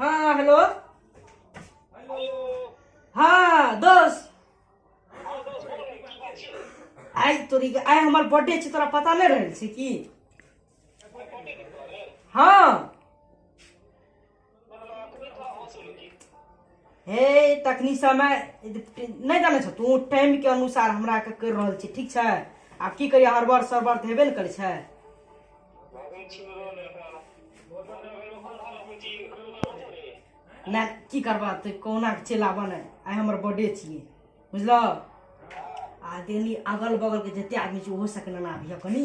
हा हॅलो हा दोस्त आइ तोरी के आइ हमर बर्थडे छै तोरा पता नहि रहल छै की हँ हे तखनी समय नहि जानै छौ तू टाइम के अनुसार हमरा के कर रहल छी ठीक छै आब की करियै हड़बड़ सरबड़ तऽ हेबे ने करै छै नहि की करबा तऽ कहुना के चलि आबऽ ने आइ हमर बर्थडे छियै बुझलह आ देनी अगल बगल के जते आदमी छै ओहो सके नेना अभी कनी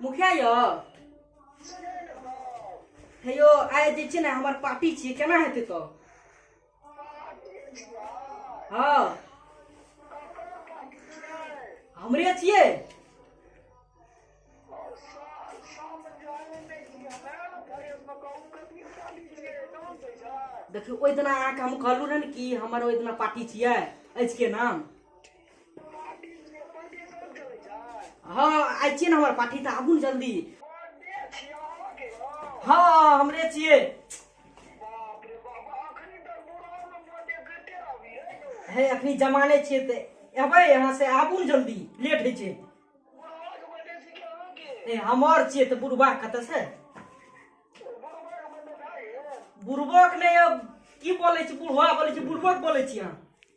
मुखिया यौ हे यौ आइ जे छै ने हमर पार्टी छियै केना हेतै तऽ हँ हमरे छियै देखियौ ओहि दिना अहाँके हम कहलहुँ रहए ने कि हमर ओहि दिना पार्टी छियै अछि के नाम हँ आइ छियै ने हमर पाठी तऽ आबू ने जल्दी हँ हमरे छियै हे अखनी जमाने छियै तऽ एबै यहाँ से आबू ने जल्दी लेट होइ छै ए हमर छियै तऽ बुढ़बा कतऽ से बुढ़बक नहि अब की बोलै छी बुढ़बा बोलै छी बुढ़बक बोलै छी अहाँ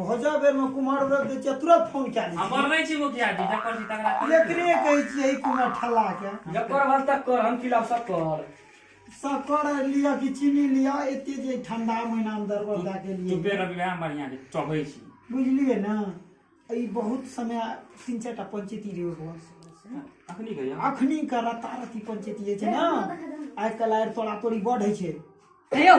भोजा बेर में कुमार व्रत दै छियै तुरंत फोन कए लै हमर नहि छी मुखिया जी जकर छी तकरा छियै। एकरे कहै छियै ई कुमार ठल्ला के जकर भर तक कर हम खिलाफ सब कर शक्कर लिअ कि चीनी लिअ एते जे ठंडा महीना में दरबर दए के तू लिए बेर अभी वएह बढ़िया जे चढ़ै छी बुझलियै ने ई बहुत समय तीन चारि टा पंचायती रही ओहि घर से। अखनी कहिया अखनी के रतारती पंचायती जे छै ने आइ काल्हि आर तोड़ा तोड़ी बढ़ै छै हे यौ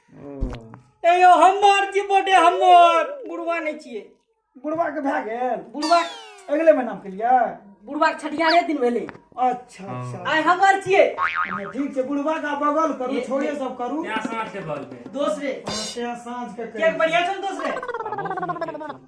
ए यौ हमर छी बर्थडे हमर बुढ़वा नहि छियै बुढ़वा के भए गेल बुढ़वा अगले महीना के लिए बुढ़वा के छठियारे दिन भेलै अच्छा अच्छा आइ हमर छियै ठीक छै बुढ़वा का बगल करू ये- छोड़े ये- सब करू दोसरे साँझ के केक करू। बढ़िया छौ दोसरे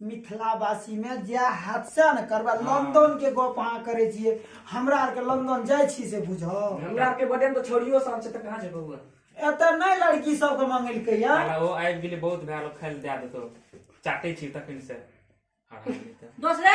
मिथिलावासी में जै हादसा ने करबा हाँ। लंदन के गप अहाँ करे छिए हमरा आर के लंदन जाय छी से बुझो हमरा आर के बटन तो छोड़ियो सब छै त कहां जेबो एत नै लड़की सब के मंगल के या ओ आइ गेले बहुत भैलो खाइल दे देतो चाटे छी तखन से दोसरे